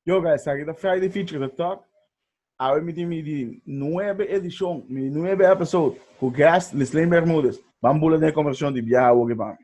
Yoga, esaki ta Friday Feature the Talk. Awe mi tin mi di nuebe edishon, mi di nuebe episode ku guest Lislin Bermudez. Ban bula den e konversashon di biaha woki pa mi.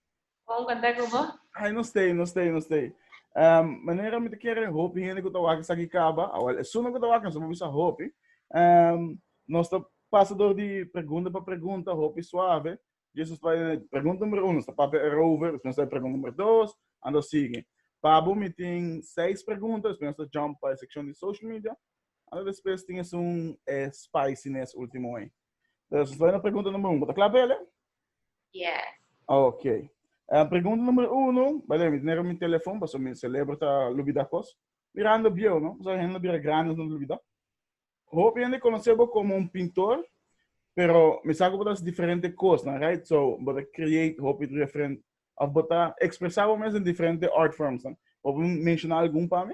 Con contact con vos. Ay, no stay, no stay, no stay. Um, manera mi te quiere hopi gente que tawaka sa kikaba, awal es suma que tawaka, no se bisa hopi. Um, nos ta pasa door di pregunta pa pregunta, hopi suave. Jesus pa pregunta numero uno, sta papi erover, después sta pregunta numero dos, ando sigue. Pabo mi tin seis pregunta, después sta jump pa sección di social media, ando después tin es un eh, spiciness último eh. Dus estai na pregunta number uno. Ta kla pa ele? Yes. Ok. Uh, pregunta nummer uno. Bale, mi tenero mi telefon, paso mi celebra ta lubida kos. Mirando bio, no? Paso hende bira grande no lubida. Hoop hende conoce bo como un pintor, pero mi saco botas diferente kos, na, right? So, bota create hoop different, of bota expresa bo mes in diferente art forms, na. Hoop mencionar algun pa mi?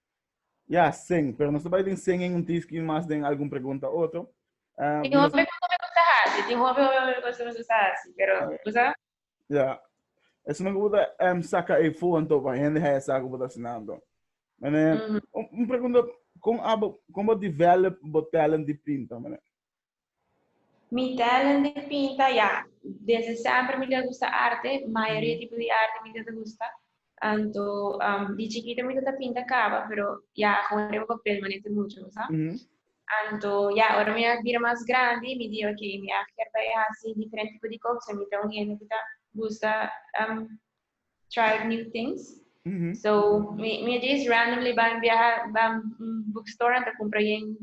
Ya, sen, pero nos ta bai den sen en un tiski i mas den algun pregunta otro. Ah, Tin hopi hopi hopi cosa hasi, tin hopi hopi hopi cosa nos esta hasi, pero bo sa? Ya, esnan ku bo ta em saka e fon to pa hende haña sa ku bo ta hasinando. Manera, un, un pregunta, kon abo, kon bo develop bo talent di pinta, manera? Mi talent di pinta ya desde semper mi ta gusta arte mayoria tipo di arte mi ta ta gusta anto um, di chikita mi ta ta pinta caba pero ya con riba papel manete mucho sa Ujú. anto ya ora mi a bira mas grandi mi di ok mi a kier bay hasi diferente tipo di cosa mi ta un hende que ta gusta um, try new things. Mm -hmm. So, mi, mi just randomly ban viaja, ban bookstore en te compra yen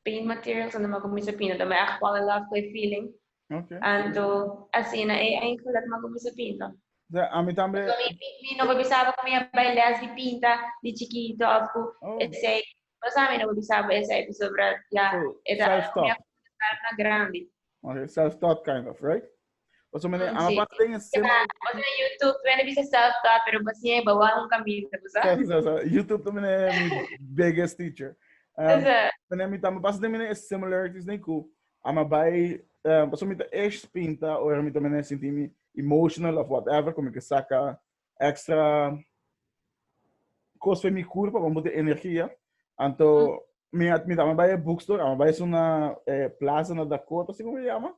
paint materials en ma comienza pinta. Dan me echt fall in love with feeling. Okay. En to, así na e eigenlijk ma comienza pinta. So, a mi también. So, mi, mi, mi no pensaba que me iba a les de pinta de chiquito of oh. ese Pasa mi no por di sabo esa episode bra ya e ta algo mi a conta ta algo na grandi. Ok, self taught kind of, right? Paso mi mm, ama pasa den sema. Paso na YouTube mi a bisa self taught, pero paso mi ba wan un camino, pasa. Sa, sa, sa. YouTube to mi mi biggest teacher. Um, mi mi tama pasa den mi e similarities den ku ama bai um, paso mi ta ex pinta o mi ta mi sinti mi emotional of whatever, como que saca extra cos for mi cuerpo pa bote energia anto mi mi dame bai e bookstore ama bai suna eh, plaza na Dakota si como se llama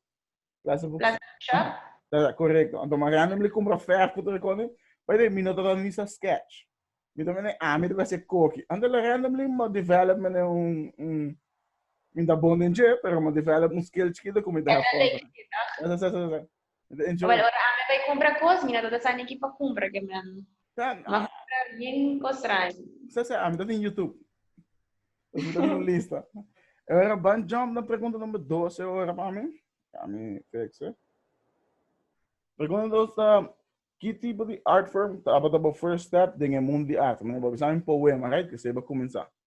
plaza bookstore Plaza Shop? da, correcto anto ma random le compra ver foto de cone bai de mi no tata ni sa sketch mi tome ne ami de base coki anto le random le ma develop me ne un un mi da bon den je pero ma develop un skill chikito como da Esa foto esa esa esa Enjoy. Ora ami bai cumpra cos, mi no ta sa ni ki pa cumpra, ke mi a cumpra bien cos traño. Sa sa, ami ta tin YouTube. Mi ta tin un lista. E ora ban jump na pregunta number dos e ora pa mi. Ami fix e. Pregunta dos ta, ki tipo di art form tabata bo first step den e mundo di arte? Mi a bisa mi poema, right? Esei bo cuminsa.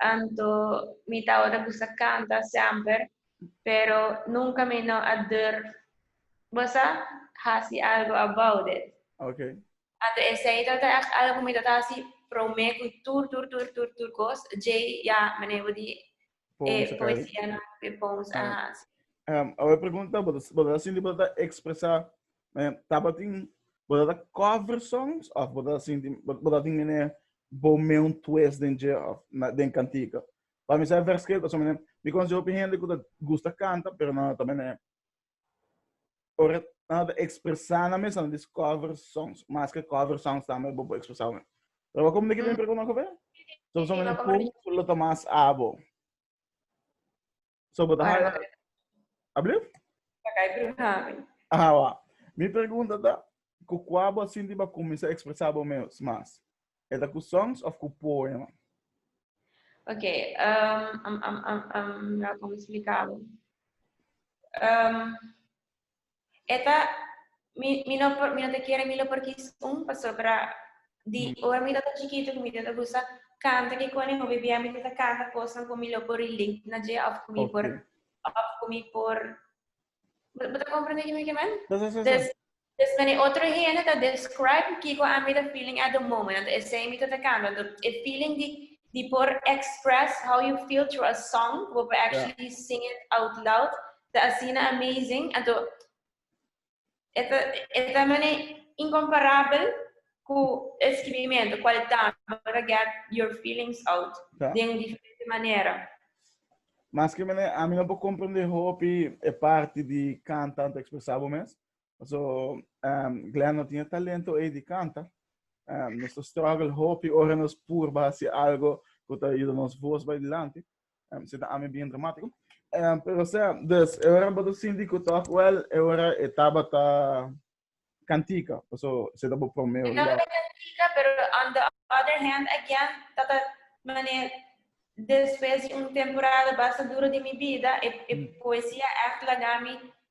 Anto mi ta ora ku sa kanta semper, pero nunka mi no a durf bosa hasi algu about it. Ok. Anto esei ta ta ègt algu ku mi ta ta hasi promé ku tur tur tur tur tur kos, djei ya mene bo di e poesianan, e poems, aha. Awe pregunta, bo ta sinti bo ta ekspresá Eh, tabatin, boda da cover songs of boda sinti, boda tin mene bome un twist den je of na den cantica. Pa mi sa vers que so mene, mi conoce hopi gente que gusta canta, pero no ta mene ora na da expresa na mesa na dis cover songs, mas que cover songs tambe bo bo expresa me. Pero como de que tem pregunta ko be? So so mene pum lo tomas abo. So, bo ta haya... Ablief? Pa kai prihami. Ah, wa. Mi pregunta ta, ku kua bo sinti bo a kuminsá ekspresá bo mes mas? E ta ku songs òf ku poema? Ok, um, um, um, um, um, mi a konspliká bo. Um, e ta mi mi no por mi no ta kere mi lo por kis un pasobra di ora mi tabata chikitu ku mi tabata gusta kanta ke kone hopi bia mi tabata kanta kosnan ku mi lo por relate na dje òf ku mi por Okay. òf ku mi por bo ta komprende kico mi ta kere men? Sí, sí, sí, sí. Des des nan e otro hende ta describe kiko a mi ta feeling at the moment anto esei mi tabata kanta anto e feeling di di por express how you feel through a song ku bo por actually sing it out loud Ta asina amazing, anto e ta e ta mane incomparabel cu e scribimento cual e ta para get your feelings out Ta. den un diferente manera. Maske mane ami no por comprende hopi e parti di canta anto expresa bo mes, So, um, Glenn no tiene talento ei di canta. Um, nos to struggle hopi ora nos purba si algo que ta ayuda nos voz by delante. Um, si ta ami bien dramático. Um, pero sea, dus, e ora bodo sindi ku toch wel, e ora e tabata cantica. So, si ta bo promeo. Tabata cantica, pero on the other hand, again, tata maneer después de un temporada basta duro de mi vida, e, e mm. poesia echt lagami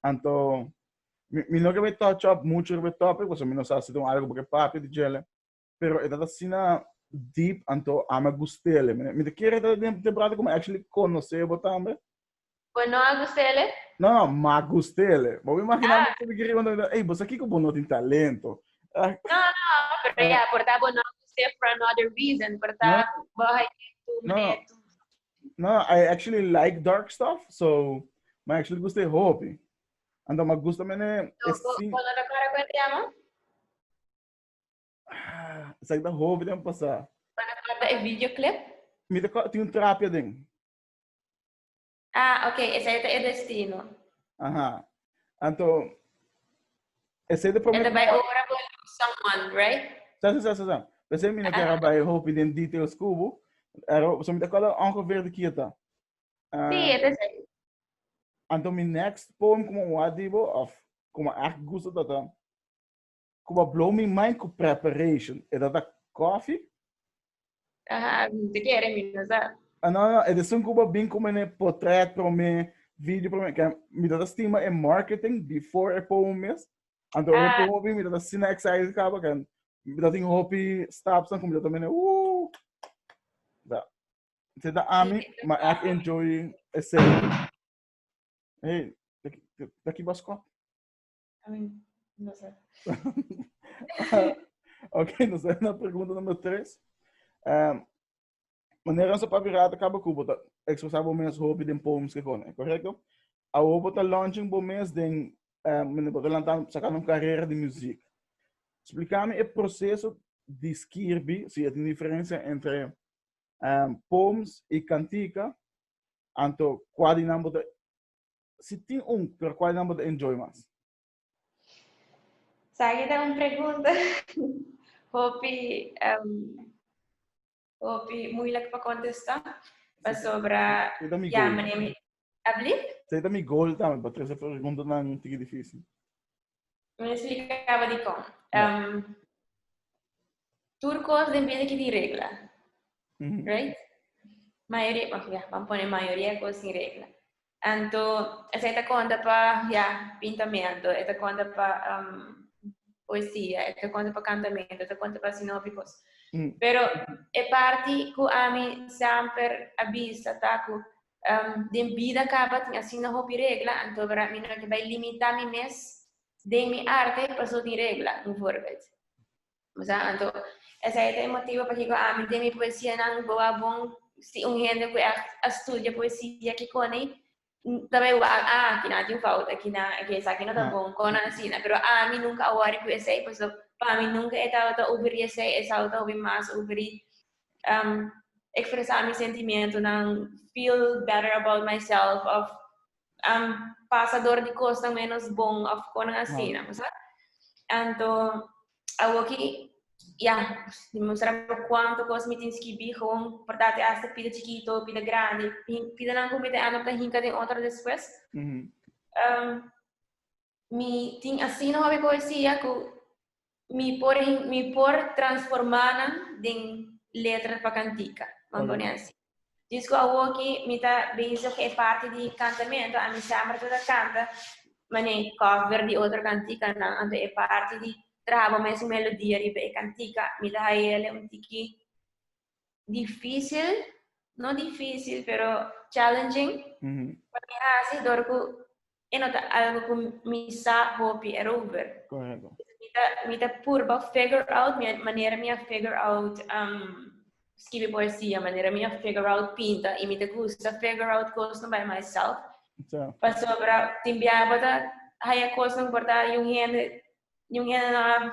Anto mi, mi no kebe touch up mucho riba topic, porque mi no sa si don algo porque papia di jele, pero e tata sina deep, anto ama gustele. Mi, mi te kere tata den temporada como actually conoce bo tambe. Bo no a gustele? No, no, ma gustele. Bo imagina ah. mi kere want to hey, bo sa kiko bo no tin talento. no, no, pero ya, por ta bo no gustele for another reason, por ta bo hay tu no. No, I actually like dark stuff, so my actually gusta e hopi. Ando ma gusta mene So, es bo, sin bo no ta cora cu e tema? ah, sa da hopi den pasa. Bo no cora e videoclip? Mi te ko- tin un trapia den. Ah, ok, esa e ta e destino. Aha. Anto, ese de primer... Ese bai ora bo San Juan, right? Sa, sa, sa, sa, sa. Pese mi no kera bai hopi den details kubo, ero, so mi ta kola ongeveer de kieta. Uh, sí, ete sí. Anto mi next poem como wadibo, of como echt gusto tata, Cuba blow mi mind cu preparation, e ta ta coffee? Aha, te kere mi no sa. Ah, no, no, e de sun Cuba bin cu mene portret prome, video prome, que mi ta ta stima e marketing before e pomo mes. Anto ora e pomo bin, mi ta ta sina excited caba, que mi ta tin hopi stops cu mi ta ta mene, ooh. Da. Se ta ami, ma ek enjoy e serie. Hey, taki, taki bas kop. I mean, no sé. ok, no sé, na pregunta number 3. Um, manera sa papi rata ka bo kubo ta expresa bo mes hopi den poems ke kone, correcto? A bo bo ta launching bo mes den, um, mene bo ta lantan, sakan un carrera de muziek. Explicame e proceso di skirbi, si e tin diferencia entre um, poems y cantica, anto kwa di nan bo ta Si tin un, pero cual nan bo ta enjoy mas? Sa aki ta un pregunta hopi hopi moeilijk pa contesta pasobra ya mane mi. Sa aki ta mi goal tambe, pa trece preguntanan tiki difícil. Mi explicaba di con. Um, tur cos den vida que tem regla. Mm -hmm. Right? Maioria, oh, yeah, vamos poner maioria cos sem regla. Então, essa é a conta para yeah, pintamento, essa conta para um, poesia, essa conta para cantamento, essa conta para sinópicos. Mm. Pero é parte que a mim sempre avisa, tá? Que Um, den bida kaba tin asina hopi regla, anto bra mi no ke bai limita mi mes den mi arte paso tin regla, un voorbeeld. Masa, anto, esa eta e motivo pa kiko ami den mi poesia nan bo a bon si un hende ku echt a studia poesia kikoni tabai wa ah, kina tin fout aki na, eke esaki no ta bon, kona asina, pero ami nunka a worry ku esei, paso pa mi nunka e tabata ubri esei, esau ta hopi mas ubri um, expresa mi sentimiento nan feel better about myself of um, pasa door di cos nan menos bon of konan así, wow. ¿no? Anto, awoki ya, demonstra por cuánto cos me tienes que vi gewoon, por date hasta pida chiquito, pida grande, pida nan comete ano para hinca de otro después. Mm -hmm. um, Mi tin asina hopi poesia ku mi por mi por transformá nan den letra pa kantika, nan pone así. Dus ku awor ki mi ta bezig ku e parti di kantamentu, ami semper ta ta kanta manera di cover di otro kantikanan, anto e parti di traha bo mesun melodia riba e kantika mi ta haia el un tiki difícil, no difícil, pero challenging mm -hmm. pa mi hasi dor ku e no ta algo ku mi sa hopi erover. Correcto. Mi ta, mi ta purba figure out, mi manera mi a figure out um, escribir poesia, manera mi a figure out pinta, y mi ta gusta figure out cosas by myself. So. Pasobra, timbiaba ta haya cosas importante, yung hende, yung hende na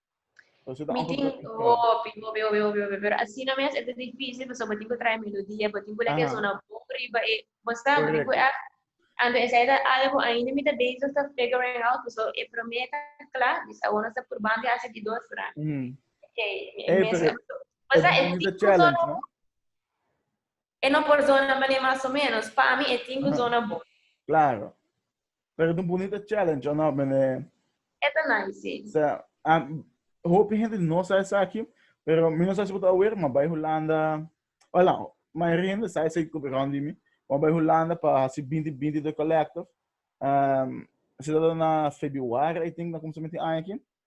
Mi tin hopi, hopi, hopi, hopi, hopi, pero asina mes e ta difícil pasobra bo tin ku trae melodia, bo tin ku leke Aha. zona bon riba e, bo sa, bo tin ku Correcto. èkt. Anto esa e ta algu ainda mi ta bezig ta figuring out, paso e promé ta kla, dus awor nos ta purbando hasi di dos ra. Mhm. Key, mi Ey, mes pero e, bo e sa e tin ku zona bon. E no por dona mane mas o menos. Pa mi e tin cu dona bon. Claro. Pero tin bunita challenge o no mene? E ta nice si. Sa, a hopi hende no sa esaki, pero mi no sa si bo ta awer, ma bai Hulanda, o la, mayoria hende sa esaki cu rond di mi. Bo a bai Hulanda pa haci binti binti the collective. Ehm, si ta dor na Febiuari I tink na cuminsamento di aña aki.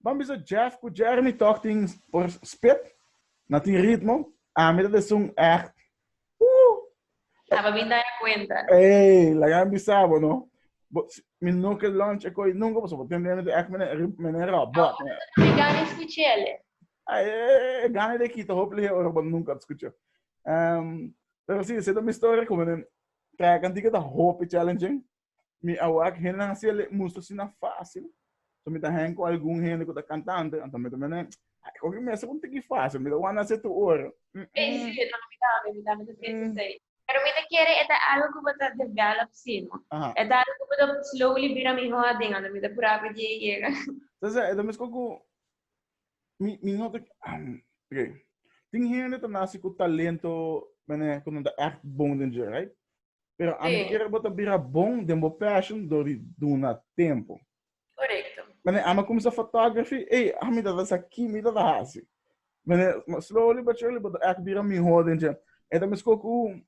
Ban bisa Jeff ku Jeremy tòg tin por spit na tin ritmo, ami ta den sun ègt ooh. Ta pa bin daña kuenta. Ey, laga mi bisa bo no. Bo mi no ke lunch e koi nunka pasobra bo tende mi ta ègt mene ri mene robòt. Awor ta duna mi gana skuch'ele. Ay e gana de kita hopi lihé ora bo nunka ta skuch'é. Ehm, pero si esei ta mi storia ku mene trèk antigua ta hopi challenging. Mi a wak hennan hasi el e musu asina facil. So mi ta hang cu algun hende cu ta cantante, anto mi ta mira nan, ay, coge mester cu un tiki facil, mi ta wanda hasi tu ora. Ey, si, mi tambe, mi tambe, mi tambe ta siente asey. Pero mi ta kere e ta algo cu bo ta develop si no. Aha. E ta algo cu bo ta slowly bira miho aden, anto mi ta cura cu dje yega. Sa sa, e ta mescua cu mi, mi no ta, am, ok. Tin hende ta naci cu talento, mene, cu nan ta echt bon den dje, right? Pero a mi kere bo ta bira bon den bo passion door di duna tempo. Correcto. Wanneer aan me comienza photography, hey, a mi dat is a key, mi dat a hasi. Wanneer, maar slowly but surely, but ek bira mi ho den je. En dan misko ku,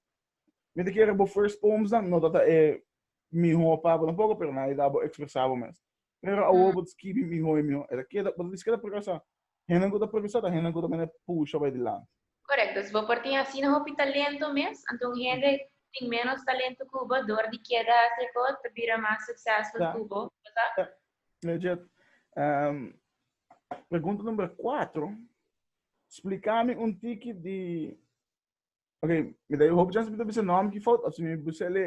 mi te kere bo first poems dan, no dat e mi ho pa bo tampoco, pero na e da bo expresa bo mes. Pero awor bo ta skibi mihó i mihó. E ta keda, bo ta diskeda progresá. Hendenan ku ta progresá ta hendenan ku ta mester pusha bai dilanti. Korekto. Si bo por tin asina hopi talento mes, anto un hende ku tin ménos talento ku bo, dor di keda hasi e kos, ta bira mas suksesful ku bo, no ta? Ta. Mira djed, pregunta numero kuater, spliká mi un tiki di, oke, mi ta hopi chans pa mi ta bisa nòmber ki fout òf si mi busel e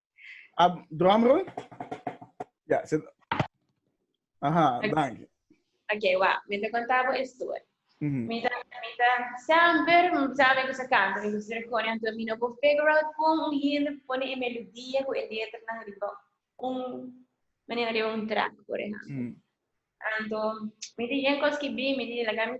Ah, drum roll? Ja, se... Aha, dank. Ok, wa, mi te contabo e story. Mm-hmm. Mi ta, mi ta, sempre, sabe que se canta, mi gusta recone, anto mi no por figure out con un hit, pone e melodia, con e letra, na riba, un, manera de un track, por ejemplo. Mm-hmm. Anto, mi te yen cos que bi, mi te la gami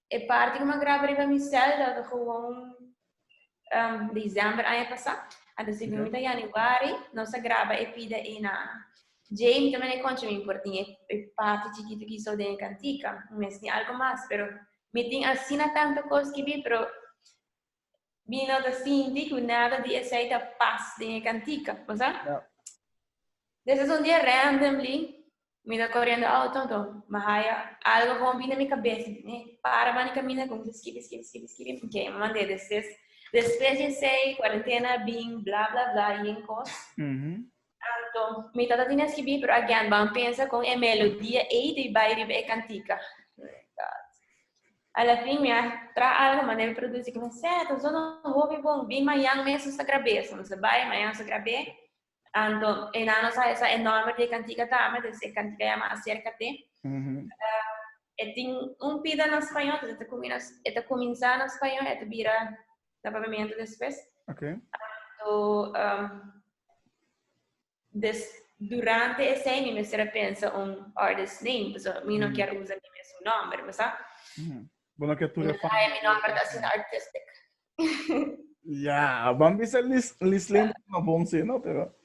E parti ku mi a graba riba mi sèl tabata gewoon desèmber aña pasá. Anto si bin mi ta yanüari, nos a graba e pida ei na djei. Mi ta mira konchi mi por tin e parti chikitu ki so den e kantika. Mi mes tin algu mas, pero mi tin asina tantu kos ki bin, pero Mi no ta sinti cu nada di esey ta pas den e cantica, bo sa? Ja. Des es un dia randomly, mi ta corriendo auto, to mi haya algo bon bini na mi cabes, mi para bani camina, cuminsa skibi, skibi, skibi, skibi, ok, mi mand'e despues, despues di esey, cuarentena a bin, bla, bla, bla, y en cos, Mhm. Exacto. Mi tata tiene escribí, pero again, van a pensar con e melodía ei de bai riba e cantica. A la fin, mi a tra algo ma debe produce que me seto, zo no hobi bon, bin mayan mes nos a grabé. So nos a bai, mayan nos a grabé. Anto, e na nos a esa enorme de cantica tame, de se cantica llama Acércate. Mm -hmm. uh, e tin un pida na español, entonces e ta comienza na español, e ta bira ta papiamento despues. Okay. Anto, um, des, durante ese mi mester a pensa un artist name, pues mi no mm. quiero usar mi mesmo nombre, pues ah. Mm. Bueno, que tú le fans. Ay, mi nombre está sin artistic. Ya, vamos a ver si Lislin no bon, sí, ¿no? Pero,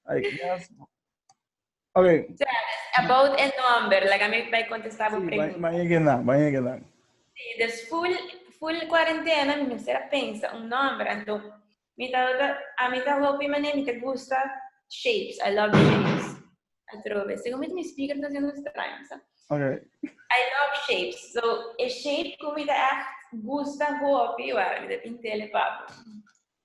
I guess, Okay. About e number, laga mi bai contesta bo pregunta. Bai hege nan, bai hege nan. Si, des full, full cuarentena mi mester a pensa un number, anto mi ta, a mi ta hopi mane, mi ta gusta shapes, I love shapes. Atrobe, segun mi mi speaker ta haciendo estraño, sa. Okay. I love shapes, so e shape cu mi ta echt gusta hopi, wara, mi ta tintele papo.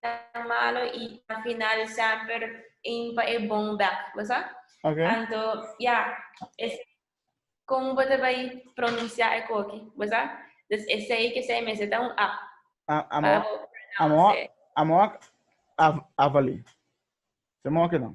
tan malo y ta finalsa per ein pa e bon bek, bo sa? Okay. Anto, ya, es como bo te bai pronuncia e koki, bo sa? Dus esei ke sei mester ta un app. A, amo, pa bo amo, pronounce. amo a, a, avali. Se mo ke dan.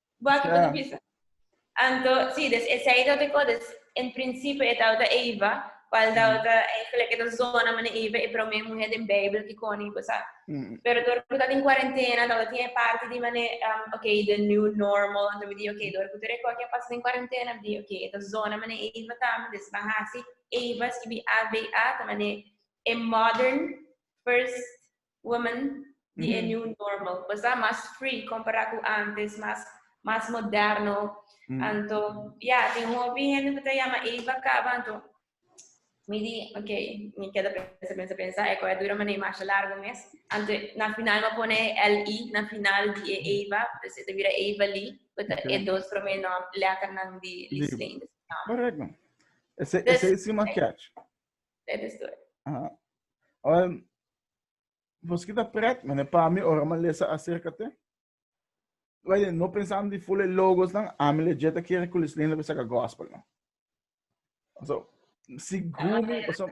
Wak i puti bisa. Anto, sí, des esei tabata e en prinsipio e tabata Eva, kual tabata eigenlijk e ta zona manera Eva e promé muhé den Beibel kikon i bo sa. Pero dor ku ta den kuarentena tabata tin e parti di manera, okay, the new normal, anto mi di okay, dor ku tur e kos ya pasa den kuarentena, mi di okay, e ta zona manera Eva ta, mi di ban hasi Eva, skibi A-V-A, ta manera e modern first women di e new normal. Pues ta mas free compará cu antes, mas, mas moderno. Anto, ya, tin un hopi hende cu ta yama Eva caba, anto, mi di, ok, mi keda pensa, pensa, pensa, e cu a dura mane e masha largo mes. Anto, na final mi a pone e LI na final di e Eva, pues e ta bira Eva-Li, cu ta e dos prome nom, letternan di Lislene. Correcto. Esey, esey si mas catch. Let us do it. Aha. Ora, vos kita pret, mene pa mi, ora ma lesa acerca te. Wede, no pensando di fule logos nan, ami le jeta kere kulis linda pa saca gospel, no. So, si gumi, paso,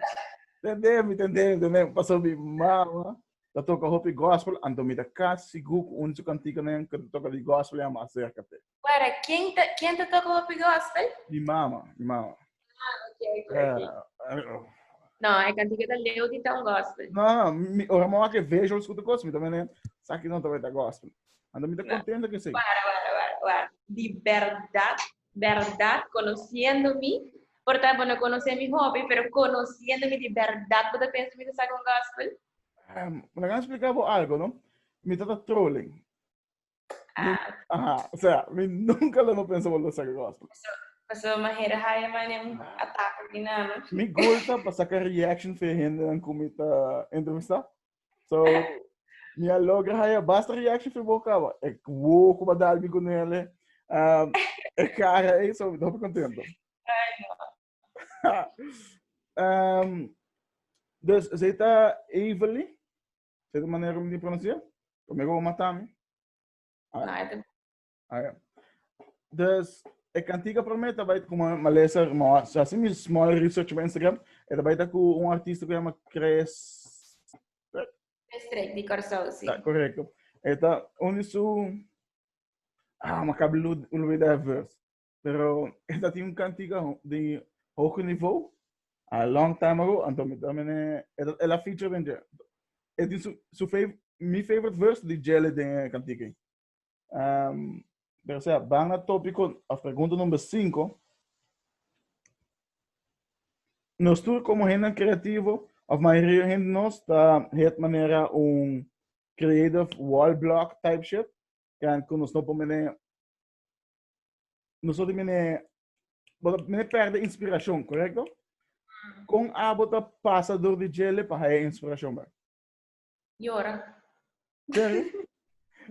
tende mi, tende mi, tende mi, paso mi mama, ta toca hopi gospel, anto mi ta kas, si gu, un su cantico nan, ka toca di gospel, ya ma acerca te. Wara, ken ta, ken ta toka hopi gospel? Mi mama, mi mama. Ah, ok, ok. Uh, uh, no, e cantiga ta leu di ta un gospel. No, no, mi, ora mo ake vejo scuta gospel, mi también, saki no ta gospel. Ando mi ta contento que sí. Wara, wara, wara, wara. Di verdad, verdad, conociendo mi, por tanto, no conoce mi hobby, pero conociendo mi di verdad, puta pensa mi ta saki un gospel? Um, la gan explica bo algo, no? Mi ta ta trolling. Ajá, o sea, mi nunca lo no pensa por lo saca gospel. Paso manera haya mane un ataque aquí na no. Mi gulta pa saca reaction fe gente dan comita entrevista. So, mi a logra haya basta reaction fe boca ba. E wo como da albi con él. Um, e cara e so, no me contento. Ay, no. um, dus, ze ta Evelyn. Sete manera ku mi tin pronuncia? Pa mi go mata mi. Nada. Ayo. Dus e kantika pa mi tabait ku ma lesa mo asi mi small research pa Instagram, e tabait ku un artista ku yama Chris Strek di Corsou, si. Ta correcto. Eta un di su ah, ma acabo de olvidar verse. pero e ta tin un cantica di hoge niveau a long time ago anto mi ta mene e la feature den dje e tin su, su fav, mi favorite verse di Jelly den e cantica um, pero sea ban na tópico of pregunta number 5 nos tur como hende creativo of mayoría hende nos ta het manera un creative wall block type shit kan ku nos no por mene Nosoto mene, mene perde inspiracion, correcto? Mm. Con abo ta pasa door di jele pa haya inspiracion, ba? Llora. Sorry?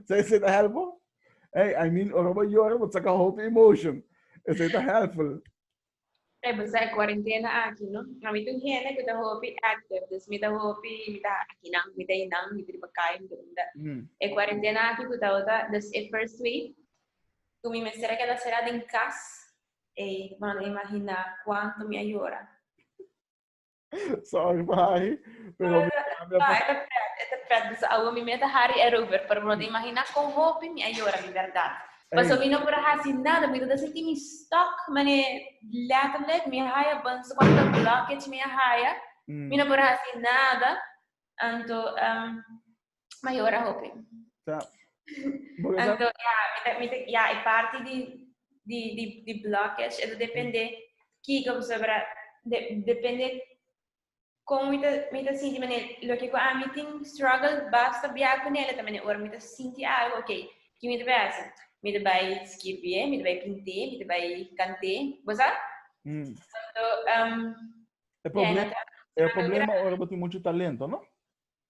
Zij is dit helpful? Hey, I mean, orobo jora, but saka hope emotion. Is dit helpful? E bisa e cuarentena aki, no? A mi tin hende cu ta hopi active, dus mi ta hopi, mi ta aki nan, mi ta einan, mi ta riba cai, mi ta unda. Mm. E cuarentena aki cu ta ota, dus e first week, cu mi mester a keda cera den cas, ey, mano, imagina cuanto mi a yora. Sorry pa Harry, pero mi cambia pa... Ete pret, ete pret, dus awo mi mete Harry erover, pero no ta imagina con hopi mi a yora, di berdad. Paso mi no por a haci nada, mi ta ta sinti mi stuck, mane, letterlijk, mi a haya bunso, cuando ta blockage mi a haya, mi no por a haci nada, anto, ehm, mayor a hopi. Ja. Anto, ja, mita, mita, ja, e parte di, di, di, di blockage, eto depende, kiko, pues, para, de, depende, como mita, mita sinti, mene, lo que a mi tin struggle, basta bia con ele, también, ora mita sinti algo, ok, que mita vai hacer? Mita vai escrever, mita vai pinte, mita vai cante, bosa? Mm. Anto, um, e problema, e problema ora botin mucho talento, no?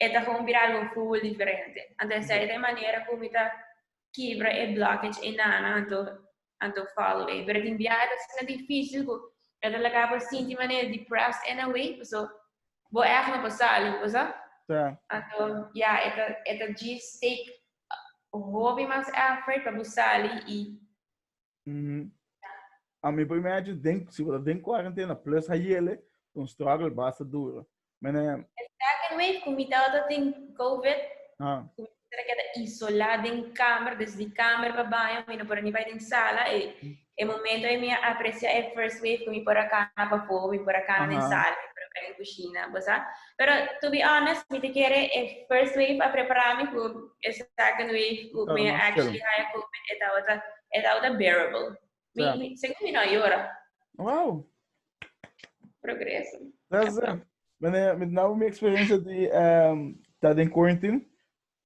e ta gewoon bira algo full diferente. Anto esei ta e manera ku mi ta kibra e blockage ei nana anto anto follow ei. Pero tin biaha ta asina difícil ku e ta laga bo sinti manera depressed in a way, paso bo èf no por sali, bo sa. Ta. Anto ya, e ta e ta djis take hopi mas effort pa bo sali i Mm. A mi primer año, den, si we den cuarentena, plus a yele, un struggle basta duro. Mene... El second wave, cum mi tawata den COVID, ah. cum mi tawata keda isola den kamer, des di kamer pa baño, mi no por ni bai den sala, e, mm. e momento e mi aprecia e first wave, cum mi por a cana pa fo, mi por a cana uh -huh. den sala, mi por a cana den cushina, bosa? Pero to be honest, mi te kere e first wave a prepara mi ku e second wave ku mi a actually haya COVID e tabata e tabata bearable. Mi, yeah. mi según mi no a yora. Wow. Progreso. That's it. Mene, mi na mi experiencia di um, ta den quarantine.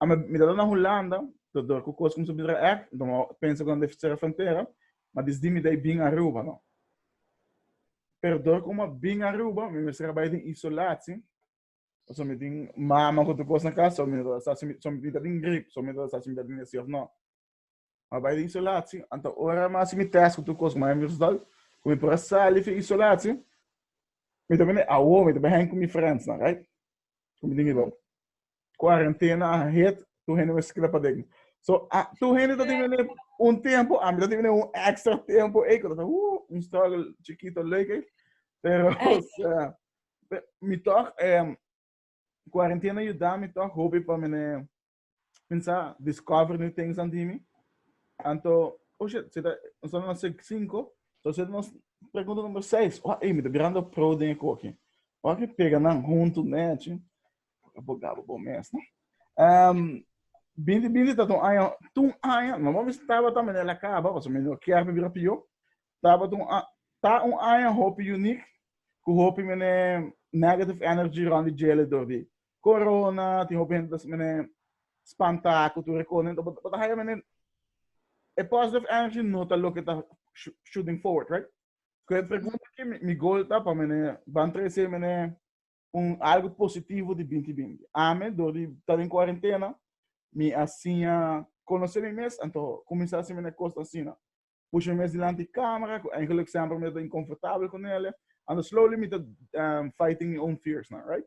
Ame mi ta na Hulanda, ta dor ku kos kumsa bira èk, nton mi a pensa ku nan debe sera frontera, ma desdi mi dai bin Aruba nò. Pero dor ku mi a bin Aruba, mi mester a bai den isolatsi, pasobra mi tin mama ku tur kos na kas, so mi no ta sa si mi ta den grip, so mi no ta sa si mi ta den esei òf nò. Ma bai den isolatio, anto ora mas si mi test ku tur kos ku mi haña mi resultado, ku mi por a sali fin isolatio, mi ta bini awo, mi ta bai haña ku mi friendsnan, right? Ku mi tin mi bo. Kuarentena a hit, tur hende a skira paden. So, a, tur hende ta tin bini un tempu, ami ta tin bini un extra tempu ei, ku ta sa, ooh, un struggle chikito leuk ei. Pero, o sea, mi tòg, kuarentena a yuda mi tòg hopi pa mi Mensa discover new things dan di mi. Anto, oh shit, zeta, ons na sec 5, so zeta nos pregunta number 6. Oh, hey, mi te grando pro den koki. Oh, que pega nan junto nechi. Abogado bom mes, no? Um, bindi, bindi, tá um ano, um ano, não vamos estar batendo, mas ela acaba, mas o menino quer me virar pior. Tá batendo, tá um ano, hope unique, com hope, mene, negative energy, onde gele, do de, Corona tin hopi hende ta haci mene spanta cu tur e cosa nende ta bo ta haya mene e positive energy no ta loke ta shooting forward right cu e pregunta aki mi goal ta pa mene ban trece mene un algo positivo di binti binti ami dor di ta den cuarentena mi a siña conoce mi mes anto cuminsa haci mene cos asina pusha mi mes dilanti e camera cu eigenlijk semper mi ta inconfortabel cu nele and slowly mi ta um fighting mi own fears nan right.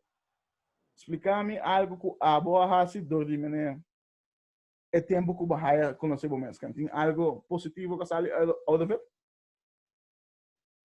Splica mi algo cu abo a haci door di mene e tempo cu bo haya conoce bo mesken tin algo positivo cu a sali out of it?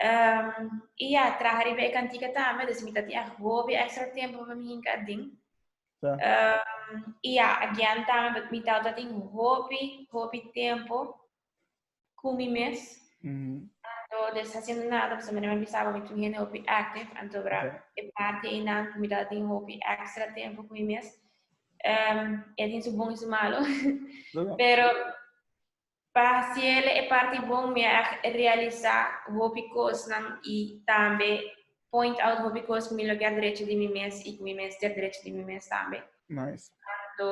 Um, y ya, traha riba e cantica tambe, dus mi ta tin agobio extra tiempo pa mi hinca adin. Sa. Um, y ya, agian tambe, but mi tau ta tin hopi, hopi tiempo cu mi mes. Mhm. Anto, dus haciendo nada, pues mi mi sabo mi tin hende hopi active, anto bra, Oké. e parte y nan, mi ta tin hopi extra tiempo cu mi mes. Um, e tin su bon y su malo. Sa. Pero Pa hasiele e parti bon mi a realisa hopi kosnan i tambe point out hopi kos ku mi lo ke a drechi di mi mes i ku mi mester drechi di mi mes tambe. Nice. So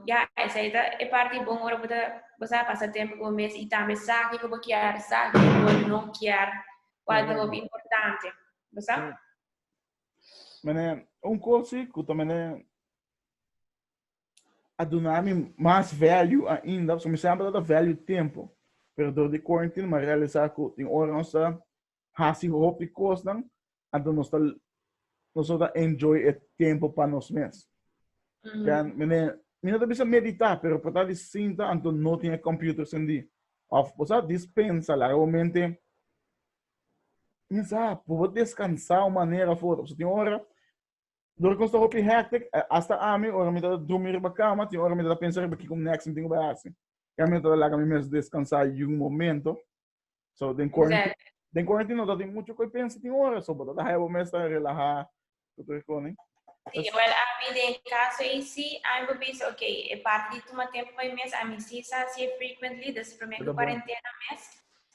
ya esei ta e parti bon ora bo ta bo sa pasa tempu ku bo mes i tambe sa kiko bo kier sa kiko bo no kier kual ta hopi importante bo sa. Mene un kosi ku ta mene a duna mi mas value ainda, so mi semper ta da value tempo, pero dor di quarantine mi a realisa cu tin ora nos ta haci hopi cosnan anto nos ta nos no ta enjoy e tempo pa nos mes. Den mi ne mi no ta bisa medita pero por ta di sinta anto no tin e computer cendi of por sa dispensa laga bo mente mi sa por bo descansa un manera for so tin ora Dor cos ta hopi hectic, hasta ami ora mi ta drumi riba cama tin ora mi ta pensa riba kico next mi tin cu bai haci. Ca mi no ta laga mi mes descansa y un momento. So den quarantine, den quarantine no ta tin mucho cu pensa tin ora, so bo ta haya bo mes ta relaha cu tur e cona. Si, well ami den e caso ey si, ami bo pensa ok, e parti di tuma tempo pa mi mes ami si sa haci e frequently desde prome cu quarantena mes,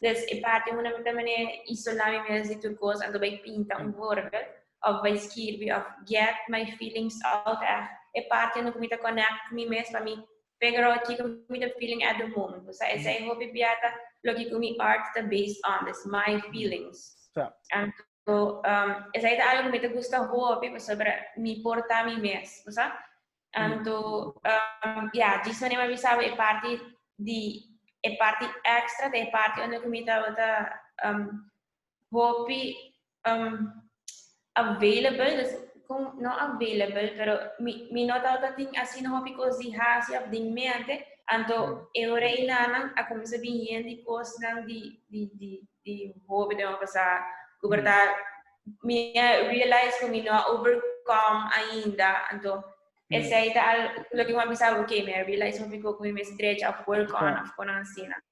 des e parti unda mi ta mane isola mi mes di tur cos anto bai pinta un vorbe. Òf bai skirbi òf get my feelings out èh. E parti unda ku mi ta konèkt ku mi mes pa mi figure out kiko mi ta feeling at the moment. Ku sa esei hopi bia ta loke ku mi art ta based on, des my feelings. Anto esei ta algu ku mi ta gusta hopi pasobra mi por ta mi mes, bo sa. Anto ya, djis manera mi a bisa bo e parti di, e parti èkstra ta e parti unda ku mi tabata hopi um, available, dus con, no available, pero mi, mi no tauta tin así no hopi cos di hasi of di mente, anto mm. eure y nanan a comienza bien di cos nan di, di, di, di hopi de pasa, cuberta, mm. mi realize que mi no overcome ainda, anto Ese aí tá, lo que uma pessoa, ok, me realize um ficou com minha stretch of work on, of konan sina.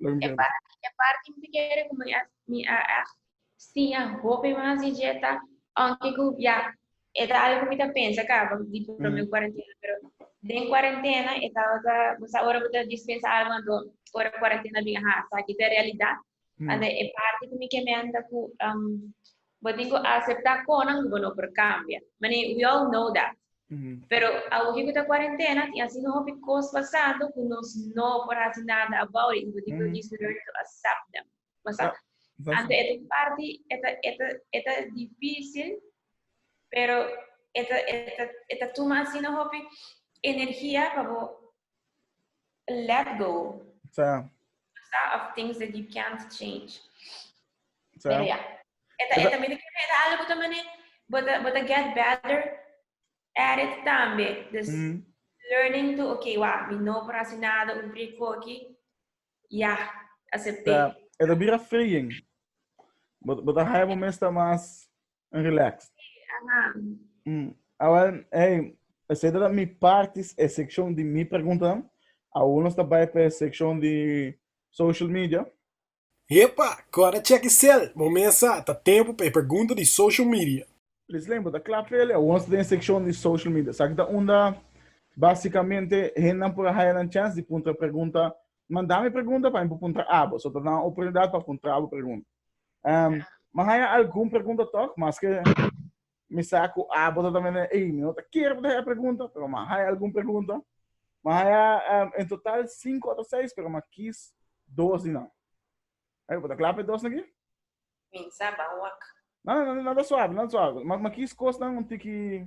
E parti e parti mi ta kere ku mi a mi a a siña hopi mas di djeta aunke ku ya e ta algu ku mi ta pensa kaba di promé kuarentena pero den kuarentena e tabata pues ora bo ta dispensa algu anto ora kuarentena a bin a hasa aki ta e realidat anto e parti ku mi ke menta ku Bo tin cu acepta conan cu bo no por cambia. Mane, we all know that. Pero awoke cu ta cuarentena tin asina un hopi cos pasando cu nos no por haci nada about it y bo tin cu just learn to accept them. Masa, anto e ta un parti, e ta, e ta, e ta dificil, pero e ta, e ta, e ta tuma asina hopi energia pa bo Let go. Sa. Sa of things that you can't change. Sa. Pero ya. Eta, eta, eta, mira que era algo también, eh, but, uh, but I get better at it también. Dus, mm. learning to, okay, wa, mi no para hacer nada, un rico aquí, ya, yeah, acepté. Sa. Eta bira freeing. But, but I have a mesta más En relax. Mm. Awel, hey, ese da mi partes e sección di mi pregunta. Aún nos tabay pe sección di social media. Hepa, cora check e cel. Bo mesa, ta tempo pe pregunta di social media. Please Len, bo ta cla pe ele. Aún nos ta den sección di social media. Esaki ta unda basicamente hendan por a haya nan chance di puntra pregunta Manda mi pregunta pa mi por puntra abo. So ta dame oportunidad pa puntra abo pregunta. Um, ma haya algun pregunta toch, mas que mi sa ku abo ta también, ei, mi no ta kier pa haya pregunta, pero ma haya algun pregunta. Ma haya um, en total 5 o 6, pero ma kies dos di nan. Hey, bota klape dos naki? Minsa bawak. No, no, no, nada suave, nada suave. Ma, ma kies kos nan un tiki...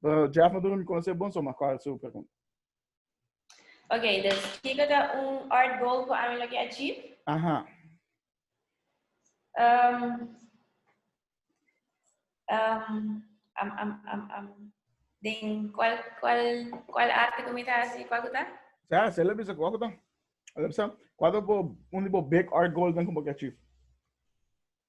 Pero Jeff no durmi con ese bon, so ma cuál su pregunta. Ok, dus kiko ta un art goal ku ami lo ke achieve? Aha. Um, um, um, um, um, um. Den cuál, cuál, cuál arte ku mi ta hasi, cuál ku ta? Ja, se le bisa cuál ku ta. Le bisa, cuál ta bo, un di bo big art goal den ku bo ke achieve?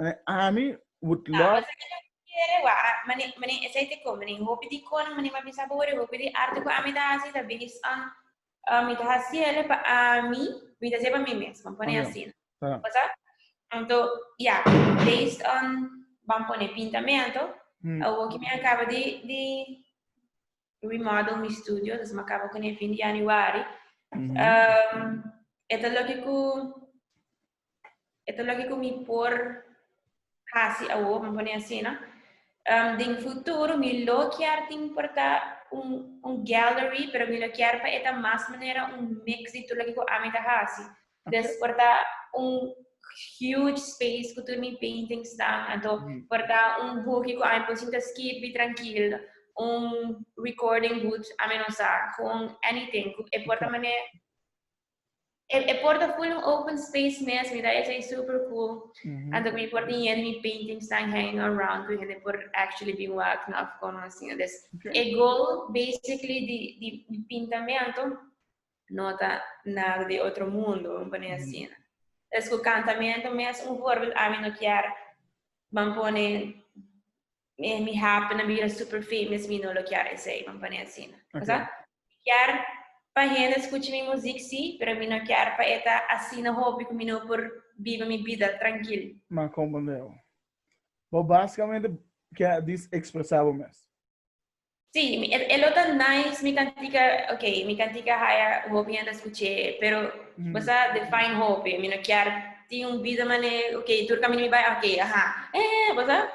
Eh, Annie would Ah, love. pasa que no quiere, wa, ah, mani, mani, ese te con, mani, hopi di con, mani, ma bisa bore, hopi di arte cu ami ta haci, ta bilis an, ah, mi ta haci ele pa ami, mi ta se pa mi mesmo, pone Amén. así. Ah, Pasa? Anto, ya, based on, van pone pintamento, mm, a hoki me acaba di, di remodel mi studio, dus me acaba con el fin de januari. mhm. Um, eto lo que cu e ta loke ku mi por hasi awor, mi pone asi, no? Um, den futuro mi lo kier tin por ta un, un gallery, pero mi lo kier pa e ta mas manera un mix di tur loke ku ami ta hasi. Des por ta un huge space ku tur mi paintings tan, anto por ta un hoekje ku ami por sinta skipi trankil, un recording booth, ami no sa, gewoon anything. E por ta manera E, e por ta full un open space mes, mi ta esei super cool. Mm -hmm. Anto mi por tin yen mi paintings staan hanging around, ku hende por actually bin wak na of kono así. Dus, okay. e goal basically di, di, di pinta me anto, no ta nada di otro mundo, un pone así. Mm -hmm. Dus, ku kantamento mes, un voorbeeld, ami no kier, ban pone mi, mi happen na bira super famous, mi no lo kier esei, vamos pone asina. Okay. Cosa? Mi kier pa hende escucha mi muziek, si, pero mi no kier pa eta asina hopi cu mi no por biba mi bida trankil. Ma comprende bo. Bo basicamente kier disexpresa bo mes. Sí, e lo tan nice, mi kan tika, ok, mi kan tika haya hopi hende skuché, pero mm. basa define hopi, mi no kier tin un vida mane, ok, tur kaminyo mi bay, ok, aha, eh, basa,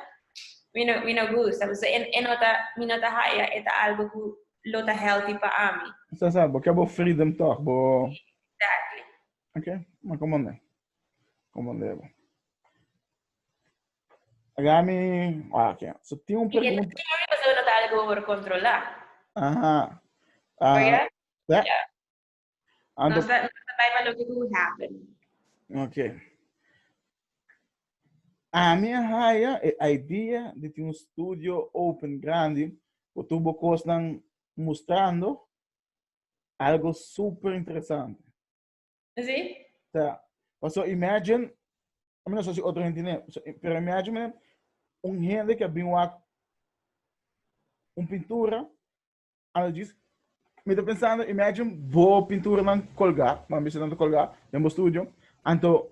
mi no, mi no gusta, basa, en, en nota, mi nota haya, eta algo ku lo ta healthy pa ami. Sa sa, bo kebo freedom toch, bo... Exactly. Ok, ma komande. Komande bo. Aga mi, ah, okay. So tin un pregunta. Y que también pasó no tal go por controlar. Ajá. Uh, oh, yeah? Yeah. yeah. And no está, no está para lo que do happen. Okay. A mi haya e idea de tin un studio open grande, o tubo cosnan mostrando algo super interesante. Sí. Ta. Paso imagine, a menos si otro gente ne, pero imagine un gente que bin wak un pintura, ando diz, me tá pensando, imagine bo pintura nan colgar, man bisa nan colgar, em bo studio, anto,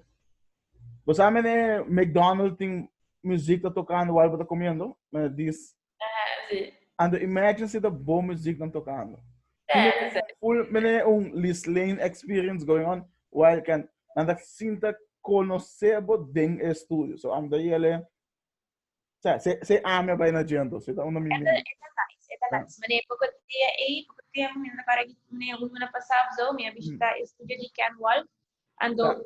você sabe, né, McDonald's tem music tá tocando, o algo tá comendo, mas diz, Ajá, sí. And the imagine si the bo music dan tocando. Yeah, sí. Full, mene un Liz Lane experience going on. While can, dan tak sinta conoce bo den e studio. So, am da yele, sa, se, se ame pa ina jento. Se ta uno mi mene. Eta nice. Mene, poco dia ei, poco dia, mene, para mene, un mene pasab zo, mene visita e studio di Ken Wolf. And do,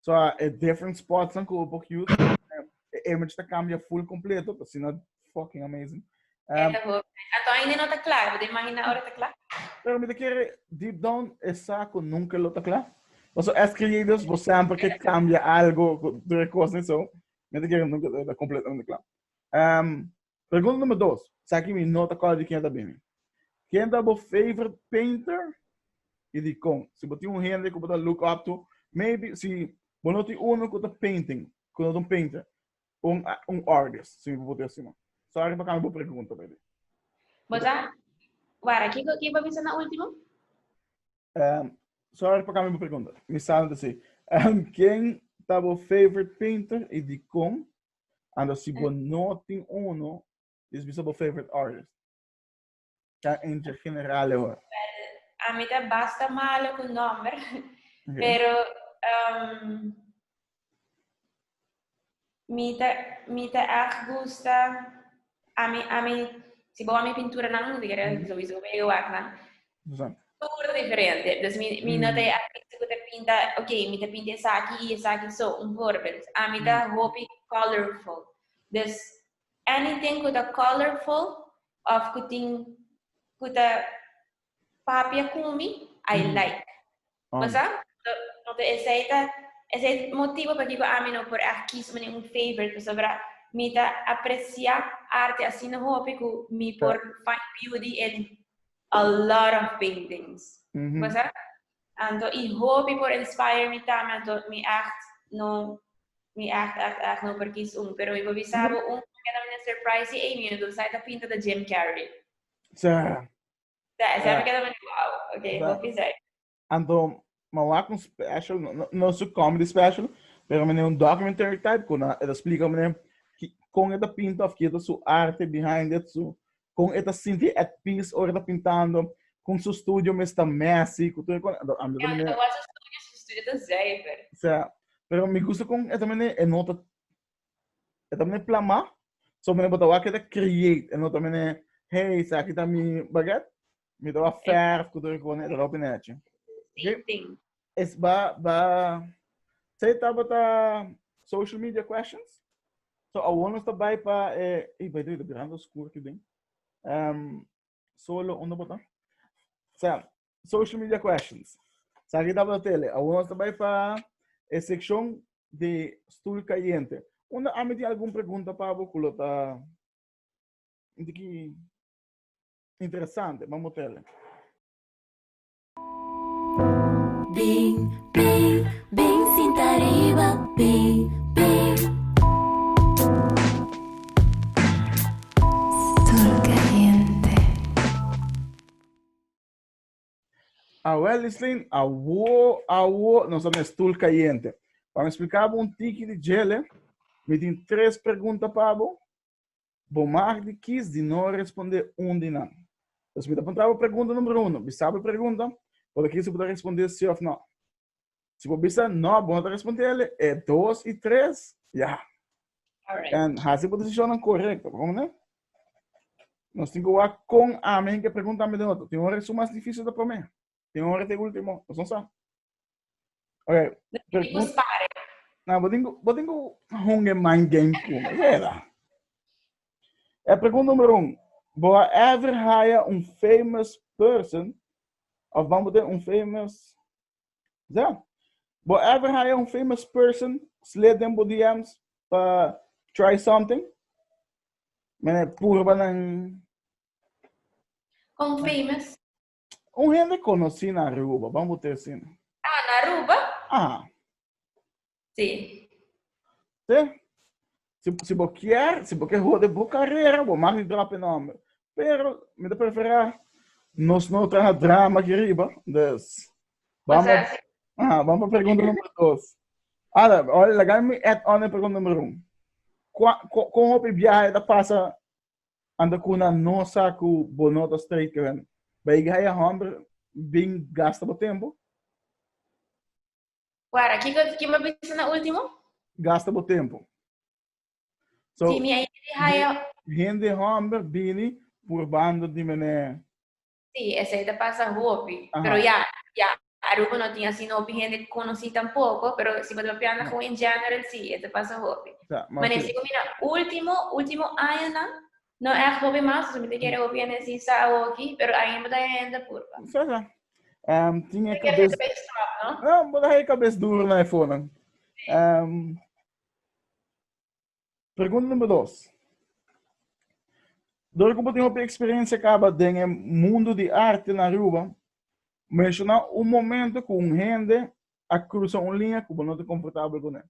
So, uh, e different spots ang ko pok youth. E image ta cambia full completo, pa sina fucking amazing. Um, Ato ainda no ta claro, de imagina ahora ta claro. Pero me quiere deep down esa ko nunca lo ta claro. Mas as creators, vos sempre que cambia algo, de cosas, so, me quiere nunca ta completamente claro. Um, Pregunta number dos, esaki mi no ta kòrda di ken ta bini. Ken ta bo favorite painter i dikon? Si bo tin un hende ku bo ta look up to, maybe si bo no tin unu ku ta painting, ku no ta un painter, un un artist, si mi por puti asina. Sòri pa kambia bo pregunta baby. Bo ta wara ki ki bo a bisa na ultimo? Sòri pa kambia bo pregunta. Mi sa no ta si. Ken ta bo favorite painter i dikon? Ando si bo no tin uno, dis bisa bo favorite artist. Ta en general hoor. A mi ta basta malo cu nomber, pero um, mi ta, mi ta echt gusta, a mi, a mi, si bo a mi pinturanan, di kere, sowieso bo bega wak nan, Susan. Tur diferente. Dus mi, mi no ta e artista ku ta pinta, ok, mi ta pinta esaki i esaki so. Un voorbeeld, ami ta hopi colorful. Dus anything ku ta colorful of ku tin, ku ta papia ku mi, I like. Bo sa? Enton esei ta esei ta motibu pakiko ami no por aki su manera un favorite pasobra mi ta aprecia arte asina hopi ku mi por find beauty in a lot of paintings. Bo sa? Anto i hopi por inspire mi tambe anto mi ègt no mi ègt ègt ègt no por kis un pero mi por bisa bo un ku mi keda manera surprise i Amy anto sa e ta pinta ta Jim Carrey. Sa. Zij, zij heb ik het al wauw. Oké, okay, hoop je zij. En dan, maar wat een special, no, no, no so comedy special, pero meneer een documentary type, kon dat explica meneer, kon het dat pinta of kieto su arte behind it, so, kon het dat sinti at peace or dat pintando, kon su studio mesta messy, kon toen kon, dat andere meneer. Ja, wat su studio, su studio dat zuiver. Ja, pero mi gusta kon het meneer, en nota E ta mene plamá, so mene bota wak e ta create, e no ta mene, hey, sa aki ta mi baget, mi ta wa verf, ku tur kone, e ta lopi nechi. Same thing. Es ba, ba, se tabata social media questions, so awor nos ta bai pa, e, e by the way, de grando skur ki den, um, solo, undo bota? Sa, social media questions. Sa kita pa tele. Awor nos ta bai pa e seccion de stoel caliente. Unda ami tin algun pregunta pa bo cu lo ta un tiki interesante. Bambo tele. Bing, bing, bing sinta riba, bing, bing. Stoel caliente. A Wellesley, awo, awo, nos a mes tul kayente. Pa mi splika bo un tiki di djele, mi tin tres pregunta pa bo, bo mag di kies di no responde un di nan. Entonces mi ta puntra bo pregunta numero uno, bisa bo e pregunta, bo ta kies si bo ta responde si of no. Si bo bisa, no, bo no ta responsabel, e dos i tres, ya. Alright. En hasi bo decisionan correcto, como ne? Nos tin goa con ame hen que pregunta ame den otro. Tin hora su mas difícil ta prome. Tin hora te último. Nos no sa. Ok. Pregunta. Na, bo tin, bo tin go honge man game como. Vera. E pregunta numero un, Bo a ever haya un famous person of ban bo tin un famous ya Bo a ever haya un famous person slid den bo DMs pa try something? Mene purba nan. Con famous? Un hende conocí na Aruba, ban bo te sin. Ah, na Aruba? Aha. Sí. Sí. Si, si bo kier, si bo ke hode bo carrera, bo mari drop e nombre. Pero, mi te prefera, nos no traha drama ki riba, dus, ban pa, aha, ban pa pregunta numero dos. Ada, laga mi add on e pregunta numero un. Con hopi biahe ta pasa Anda cu nan no sa cu bo no ta straight keren. Bay gaya homber bin gasta bo tempo. Wara, kico ki bo a bisa na ultimo? Gasta bo tempo. So, Si mi a yega di haya. Hende homber bini purbando di mene. Sí, esei ta pasa hopi. Aha. Pero ya, ya, Aruba no tin asina hopi hende conocí tampoco, pero si bo ta pianga gewoon in general, sí, e ta pasa hopi. Sa, ma Manesí oké. cu mira, último, último añanan, no echt hopi mas, dus mi ta kere hopi hende así sa awoki, pero ainda bo ta haya hende apur, pa. Sa, sa. Ehm, tin e Te kere cabes... hende pa e stop, no? No, bo ta haya cabes duro na e fonan. Ehm, Pregunta number dos. Dor ku bo tin hopi eksperensia kaba den e mundu di arte na Aruba, menshoná un momento ku un hende a krusa un liña ku bo no ta komfortabel kuné.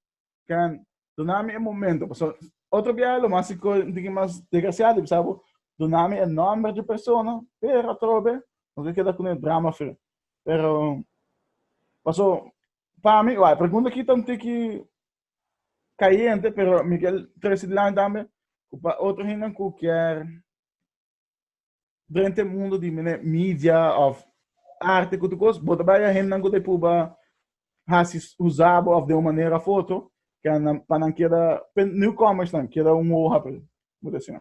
Can duna mi e momento, pasobra otro biaha lo mas sikor un tiki mas desgrasiado a bisa bo duna mi e nòmber di persona, pero atrobe no ta keda kuné drama free. Pero paso pa mi, wak, e pregunta aki ta un tiki cayente pero mi kier trece dilanti tambe cu pa otro hende cu kier drenta e mundo di mene media of arte cu tu cos bo ta bay a hendenan cu ta pruba haci usa bo of den un manera of otro ke nan pa nan keda pe newcomers nan keda un hoha pa el bo ta siña.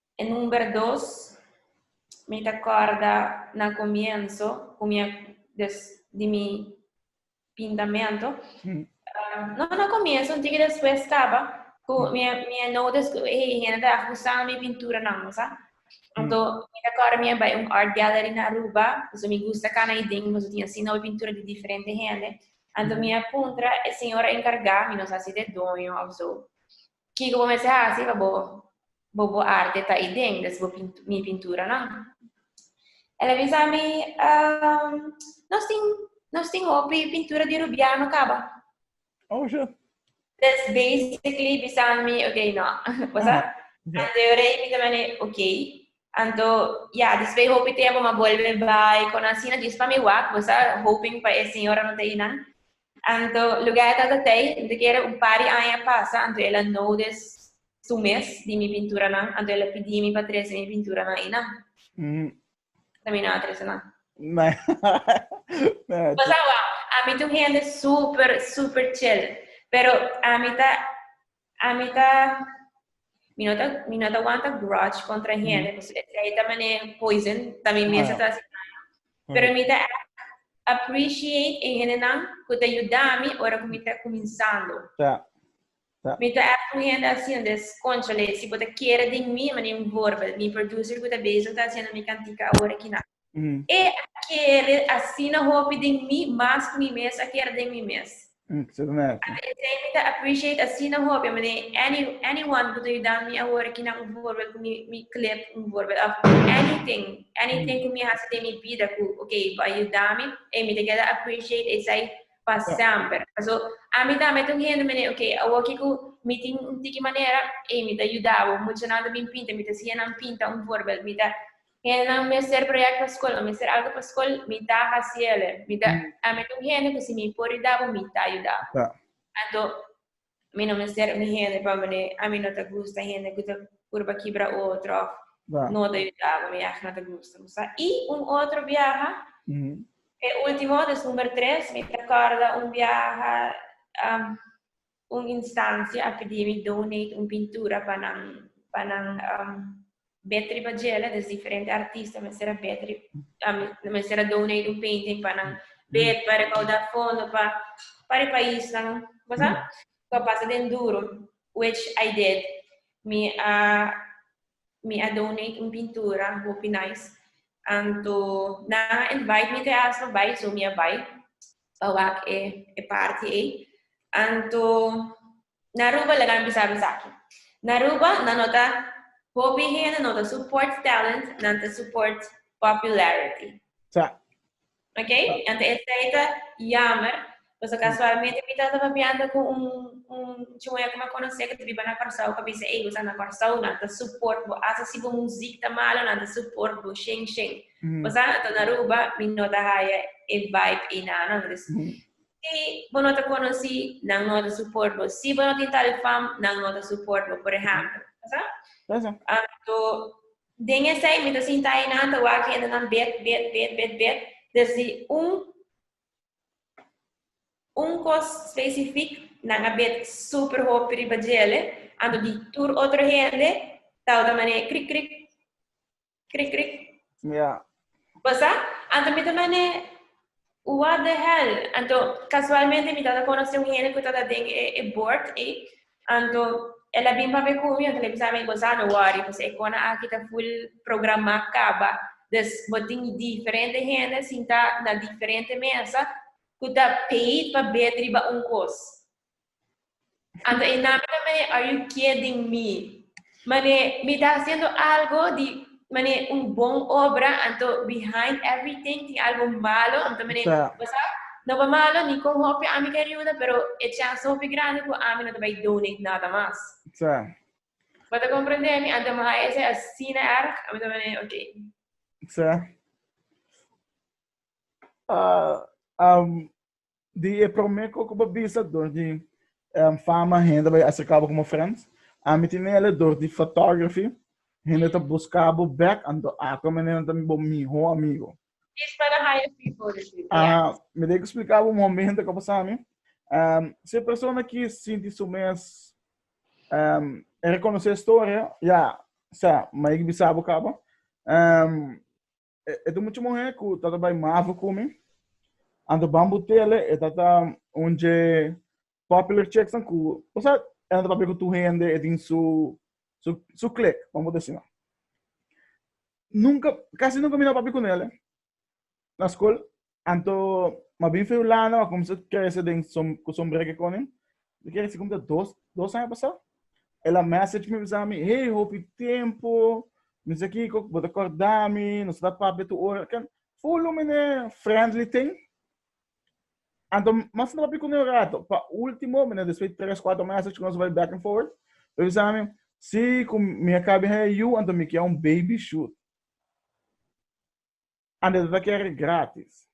E number dos, mi ta corda na comienso cu mi a des di mi pintamento, no na comienso, un tiki despues caba, cu mi a, mi a notice cu hey, hende ta acusa mi pinturanan, bo sa. Anto, mi ta corda mi a bay un art gallery na Aruba, pasobra mi gusta cana ayi den, pasobra tin asina hopi pintura di diferente hende. Anto mi a puntra e señora encarga, mi no sa si ta e doño of zo, Kiko bo mester hasi pa bo bo bo arte ta i den des bo pintu, mi pinturanan? El a bisa mi, um, nos tin, nos tin hopi pintura di Rubiano kaba. Oh, ja. Des basically bisa mi, ok, no. Wasa? Aha. Ante yo rei, mi ta mane, ok, Anto, ya, después hopi tiempo ma vuelve bai, con asina dios pa mi wak, pues a hoping pa e señor a no te inan. Anto, lugar e tata tei, mi te kere un par di aña a pasa, anto el a nodes su mes di mi pinturanan, anto el a pidi mi pa trece mi pinturanan einan. Ta mi no a trece nan. Pues awa, ami ta un hende super, super chill, pero ami ta Ami ta, mi no ta, mi no ta wanta grudge contra hende, pues e trei ta mane poison, ta mi mes a ta hasi daño. Pero mi ta echt appreciate e hendenan cu ta yuda mi ora cu mi ta cuminsando. Ja, ja. Mi ta echt un hende asi, donde es, conchale, si bo ta kere den mi, mane un voorbeeld, mi producer cu ta bezig ta haciendo mi cantica awor aki nan. E a kere asina hopi den mi mas ku mi mes a kere den mi mes. Ata esei mi ta appreciate asina hopi manera any anyone ku ta yudan mi awor aki na un voorbeeld ku mi mi clip un voorbeeld of anything anything ku mi hasi den mi bida ku okay bo a yuda mi ey mi ta keda appreciate esei pa semper paso ami tambe ta un hende manera okay awor ki ku mi tin un tiki manera ey mi ta yuda bo muchanan ta bin pinta mi ta siña nan pinta un voorbeeld mi ta Hendenan mester project pa scol, o mester algo pa scol, mi ta haciele. Mi ta, mm. a mi un hende cu si mi por yudabo, mi ta yudabo. Ta. Anto, mi no mester mi hende pa mene, a mi no ta gusta hende cu ta purba kibra otro, of Ta. no ta yudabo, mi ach no ta gusta. Musa, y un otro biaha, mm. e ultimo, des number tres, mi ta corda un biaha, um, un instansia akadémik donate un pintura pa nan pa nan um, bet riba djela, dus diferente artista mester a bet riba, um, mester a donate un painting pa nan bet pa recaudar fondo pa para e país nan, bosa? Ko pasa den duro, which I did. Mi a mi a donate un pintura, hopi nice. Anto nan a invite mi te asta bai, so mi a bai. pa wak e e parti ei. Anto na Aruba laga mi bisa esaki. Na Aruba nan no ta hopi hende no ta support talent, nan ta support popularity. Sa. Ok, anto esei ta jammer pasobra casualmente mi tata papiando cu un un chimoyo cu mi a conoce cu ta biba na Corsou cu a bisa ey bo sa na Corsou nan ta support bo asa si bo muziek ta malo nan ta support bo shen shen. Pasá nan ta na Aruba, mi no ta haya e vibe ei na annan. Dus, si bo no ta konosí, nan no ta support bo. Si bo no tin tal fam, nan no ta support bo, por ehèmpel. Pasá? Pasá. Anto, den esei mi ta sintá ei na annan, ta wak hendenan bet, bet, bet, bet, bet. Dus di un, un kos spesifik, nan a bet super hopi riba djele, anto di tur otro hende ta ota manera krik, krik. Krik krik. Ja. Pasa? Anto mi ta mane, what the hell? Anto, kasualmente mi tabata konosé un hende ku tabata den e e bord ei, anto el a bin papia ku mi, anto el a bisa mi, Gonzalo, no wòri, pues e kona aki ta full programá kaba, dus bo tin diferente hende sintá na diferente mesa ku ta pei pa bet riba un kos. Anta e nami ta mane Are You Kidding Me? Mane mi ta haciendo algo di mane un bon obra, anto behind everything tin algo malo, anto mane, Ta. bo sa, no pa malo ni con hopi ami ke riuda, pero e chance ta hopi grandi cu ami no ta bay donate nada mas. Ta. Bo ta comprende mi? Anto mi haja esey asina erg, ami ta mane, ok. Ta. Ah, am, di e prome koko bo bisa dor di um fama hende bai acerca bo como friends ami tin ele dor di photography hende ta busca bo bek anto ato mi nena ta bo miho amigo Is pa de hire people di si ya. Aha, mi dei cu splica bo un momento cu a pasa mi. Um, si e persona ki sinti su mes um, reconoce historia, ya, sa, ma ik bisa bo caba. Um, E, e tu mucho mujer ku tata bai mavo ku mi. Ando bambu tele e tata unje popular chicks an ku, o sea, e ando papia ku tu hende e tin su su su click, vamos decir. Nunca, casi nunca mi no papia ku nele na school. Anto ma bin feu lana ma kumsa krese den som ku sombreke konen. Mi kere si kumta dos dos aña pasá. Ela message mi bisa mi, hey hopi tempo, mi sa kiko ku bo ta korda mi, nos ta papia tur ora. Ken full lumene friendly tin. Anto mas no papia kuné un rato. Pa ultimo mi na despues tres kuater message ku nos bai back and forth. Mi bisa mi, si ku mi a kabe haya yu anto mi kia un baby shoot. Andes el a kere gratis.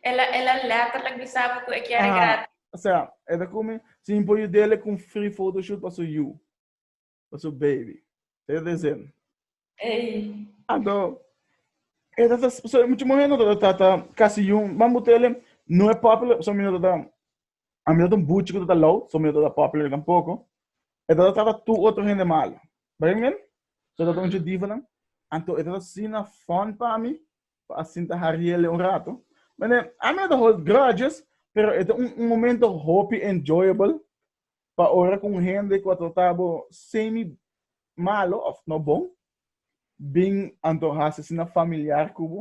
El a el a letterlijk bisa bo ku e kere gratis. Aha, osea, e ta kume sin por yu dele ku un free photoshoot pa su yu, pa su baby. Sa yu ta hesendo. Ey. Anto, e ta ta, so muchu muhé no ta ta ta kasi yu, man bo tele no e popular, so mi no ta ta A mi ta un buchi ku ta low, so mi ta popular kan poko. E ta trata tu otro hende malo. Begin men? So ta un judivonan. Anto e ta sina fun pa mi pa a sinta hariele un rato. Mende, a mi no ta hold grudges, pero e ta un momento hopi enjoyable pa ora ku un hende ku a trata bo semi malo òf no bon bin anto hasi asina familiar ku bo.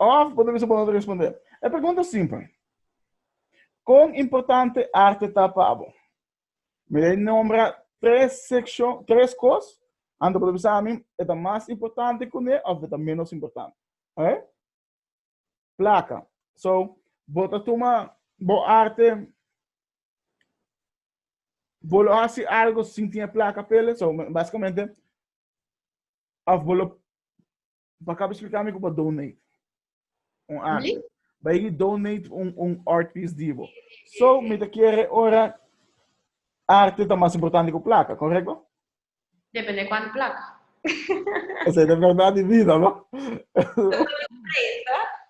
Òf bo ta bisa bo no ta respondé e pregunta simpel, Kon importante arte ta pa bo? Mi dei nombra tres sekshon, tres kos, anto bo ta bisa ami e ta mas importante kuné òf e ta ménos importante. Oke? Plaka. So, bo ta tuma bo arte, bo lo hasi algu sin tin e plaka pa el, so, básikamente, òf bo lo Bo acaba explica mi cu bo donate un arte. Mm? Bo higi donate un, un art piece di bo. So, mi te quiere ora arte ta más importante que placa, correcto? Depende cuánto placa. Esa es la verdad de vida, ¿no?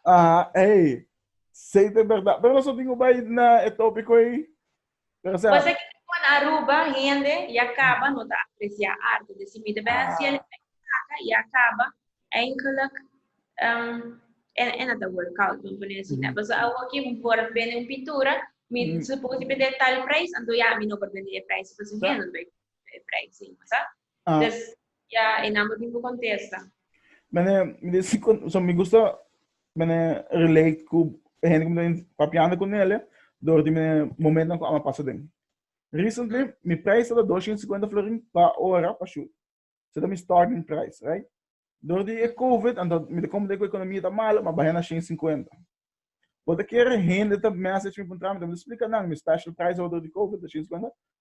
ah, hey. Sei de verdad. Pero nosotros tengo que ir na el tópico ahí. Pero sa. Pasa ke riba na Aruba hende ya kaba no ta apresiá arte. Deci mita bai haci el e placa ya kaba eindelijk en en a ta word koud pa pone aci ne. Paso awo ki por bende un pintura mi suppose bende tal prijs anto ya mi no por bende e prijs paso hende no ta bai compra e prijs ei, masa. Des, ya e number bin por contesta. Mene, mi de si, so mi gusta, mene relate cu e hende cu mi ta papiando cu nele, door di mene momentonan cu ama pasa den. Recently, mi prijs ta ta 250 florin pa ora pa shoot. So ta mi starting price, right? Door di e covid, anto mi ta comprende cu e economia ta malo, mi a baha na 150. But a kere hende ta message mi puntra mi, ta mi ta splica nan, mi special price door di covid ta 150,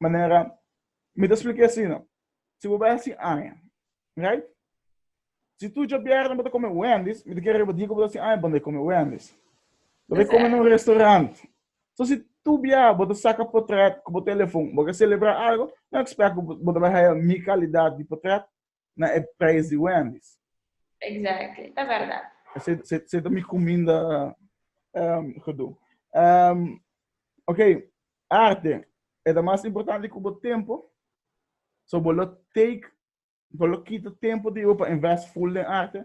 manera mi ta spliké asina, si bo bai hasi aña, right? Si tur djabièrnè bo ta kome Wendy's, mi ta kere riba di ku bo ta hasi aña bo no e kome Wendy's. Bo ta e kome na un restaurant. So si tur bia bo ta saka potrèt ku bo telefon, bo ke selebrá algu, no ekspèk ku bo ta bai haya mi kalidat di potrèt na e prijs di Wendy's. Exactly, ta berdad. Se ta mi cuminda gedoe. Ok, arte, e ta mas importante cu bo tempo, so bo lo take, bo lo kita tempo di bo pa invest full den arte,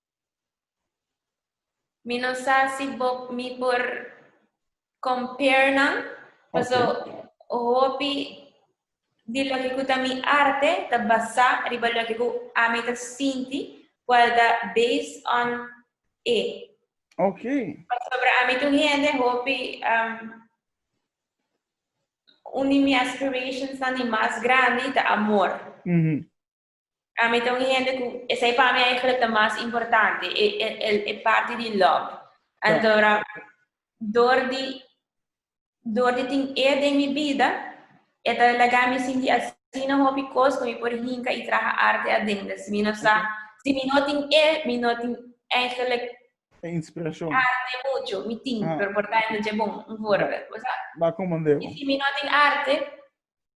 Mi no sa si bo, mi por compare nan, paso hopi di loke ku ta mi arte ta basá riba loke ku ami ta sinti, kual ta based on e. Ok. Pasobra ami ta un hende hopi um, un di mi aspirations nan di mas grandi ta amor. Mhm. Ami ta un hende ku esei pa mi aigelik ta mas importante e e el e parti di lòb. Antora dor di dor di tin e den mi bida e ta laga mi sinti asina hopi kos ku mi por hinka i traha arte adende. Si mi no sa si mi no tin e mi no tin aigelik E inspirashon. arte muchu. Mi tin, pero por ta hende dje bon, un voorbel, bo sa. Ba komo Andel. I si mi no tin arte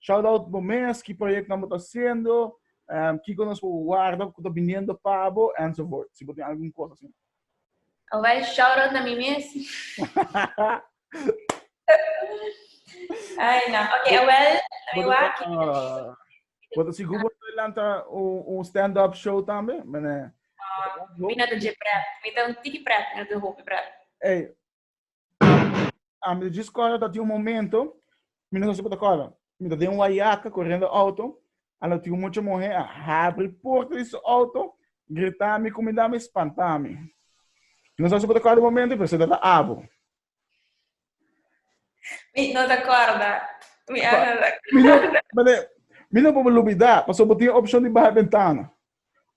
Shout out bo mes, ki proyectonan bo ta haciendo, kiko nos por warda cu ta biniendo pa bo, enzovoort. Si bo tin algun cos asina. Awel, shout out na mi mes. Ay nan, ok Awel, na mi wak. Bo ta sigur bo ta lanta un stand up show tambe? Mene. Mi no ta dje prèt, mi ta un tiki prèt, mi no ta hopi prèt. Ey, A mi ta djis kòrda ta tin un momento mi no sa kiko ta kòrda. Mi ta den Wayaka korendo outo, a lo tin un mucha muhé a habri porta di su outo, grita mi ku mi dame i spanta mi. Mi no sa si bo ta kòrda e momento pero seta ta abo. Mi no ta kòrda. Mi a no ta Mi no, kòrda. mane, mi no por lubida, paso bo tin opshon di baha e bentana.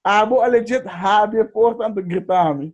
Abo a legit habri e porta anto grita mi.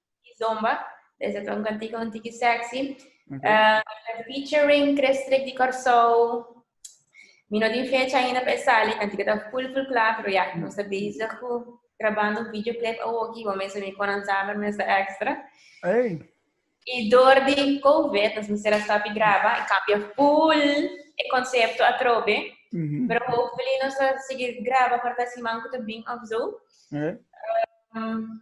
Kizomba. Des ta un cantico un tiki sexy. Uh -huh. uh, featuring Crestrik di Corsou. Mi no tin fecha ainda para sali. Cantico ta full full klaar, pero ja, nos ta bezig cu grabando un videoclip a woki. Bo mensen mi konan saber, mensen extra. Hey. Y door di COVID, nos mensen a sabi graba y cambia full e concepto a trobe. Uh mhm. -huh. Pero hopefully nos a seguir graba para ta siman cu te bin of zo. Hey. Uh, um,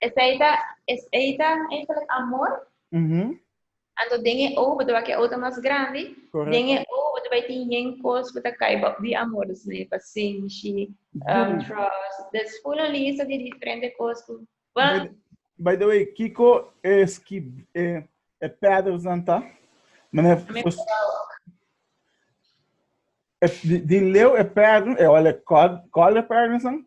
Esei ta, esei ta eigenlijk amor. Mhm. Anto den e oog, botaba ke oog ta mas grandi, den Correcto. e oog botaba e tin yen kos ku ta kai bòt di amor. Dus nan e pasenshi, um, Good. trust. Dus full un lista di diferente kos ku, By, wan, by the way, kiko e ski e e paddles nan ta? Meneer mi Fos- wou ook. e- di, di leu e paddle, e ol e cod, call e paddles nan?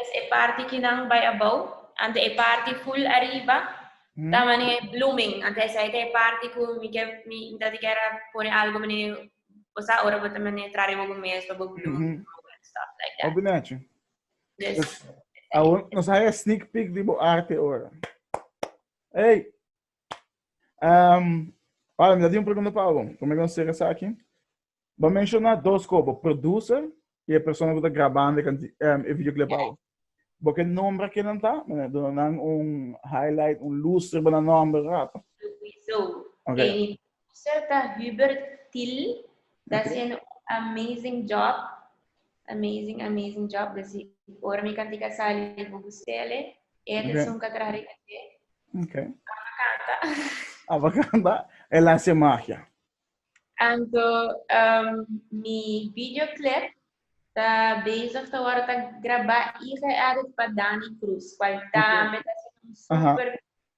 es e parti ki nan bai abou, ante e parti full ariba ta mane blooming, ante esei ta e parti ku mi ke mi ta di kera pone algo mane bo sa ora bo ta mane tra riba bo mes pa bo bloom Mhm. grow and stuff like that. Opi nacho. Dus, Dus awor nos haya sneak peek di bo arte ora. Ey! Um, para mi, dat un pregunta pa Aaron. Como eu sei essa aqui? Vou mencionar dois como, producer e a pessoa que está gravando e canti, um, e videoclip. Yeah. Porque nombre que não tá, mas dona um highlight, um lustre para nombre rato. Okay. Pastor ta Hubert Thill ta haciendo un amazing job. Amazing, amazing job. Dus i ora mi kantika sali, mi por busca'le. E Oké. atención ka traha riba dje. Ok. Amba canta. Aba canta, el hace magia. Anto um, mi videoclip ta bezig ta worde ta grabá y geëdit pa Danny Cruz, cual tambe ta haciendo un Aha. super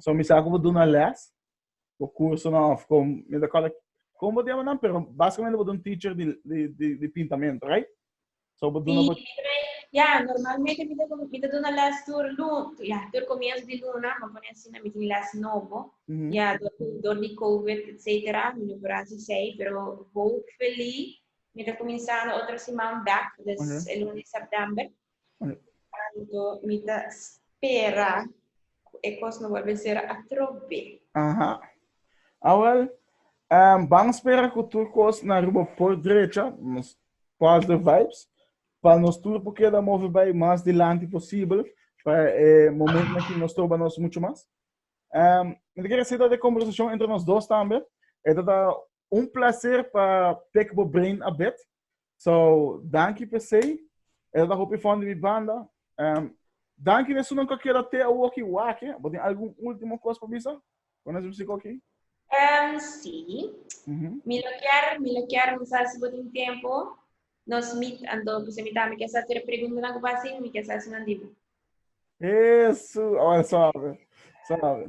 So mi sa ku bo duna les, bo kursonan of kom mi ta kòl kom bo tema nan, pero basikamente bo ta un teacher di di di di pintamentu, right? So bo duna bo Ya, normalmente mi ta mi ta duna les tur lu ya tur komienso di luna, bo pone asina mi tin les nobo. Mhm. Ya dor di dor di covid etcetera mi no por hasi esei, pero hopefully mi ta kuminsando otro siman bek, dus Oké. e lunes September. Anto mi ta spera cu e cos no bolbe ser atrobe. Aha. Awel, ehm, ban spera cu tur cos na Aruba por drecha, nos positive vibes, pa nos tur por keda move bay mas dilanti posibel, pa e momentonan cu nos troba nos mucho mas. Ehm, mi ta kere seta de conversacion entre nos dos tambe, e ta ta Un placer pa tek bo brain a bet. So, danki per se. E ta hopi fon di mi banda. Um, danki de sunan ka keda te awoki wake. Bo tin algun ultimo kos pa bisa? Kon es musiko ki? Um, si. Mm -hmm. Mi lo kier, mi lo kier, mi sa si bo tin tempo. Nos meet ando, kuse mi ta, mi kier sa si pregunta na ku ba sin, mi kier sa si nan di bo. Eso, awal sabe. Sabe.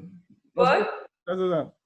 Bo? Eso, eso.